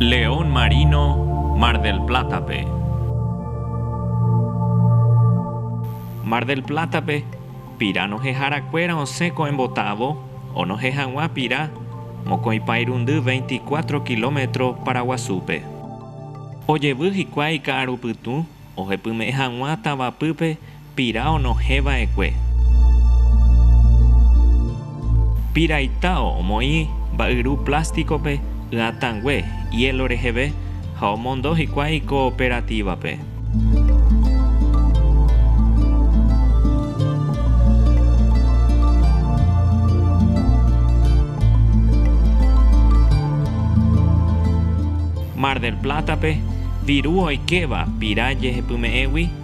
León Marino, Mar del Plata-pe. Mar del Plata-pe, pira noheharakuéra osẽ ko embotavo onohẽ hag̃ua pira mokõi pa irundy veinticuatro kilómetro paraguasúpe. Ojevy hikuái ka'arupytũ ohepyme'ẽ hag̃ua tavapýpe Pira onohẽ va'ekue. Pira itao omoĩ mba'yru plásticópe ỹatãngue hielo reheve ha omondo hikuái cooperativa-pe. Mar del Plata-pe, viru oikéva pira jehepyme'ẽgui.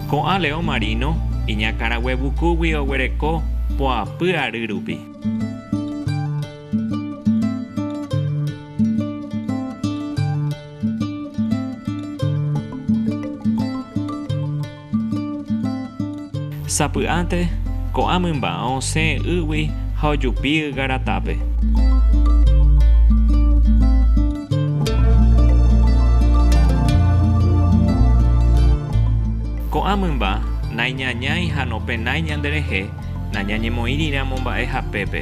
Ko'ã leõ marino iñakãraguevukúgui oguereko poapy ary rupi. Sapy'ánte, ko'ã mymba osẽ ýgui ha ojupi ygaratápe. Ko'ã mymba naiñañái ha nopenái ñanderehe, nañañemoĩriramo mba'e hapépe.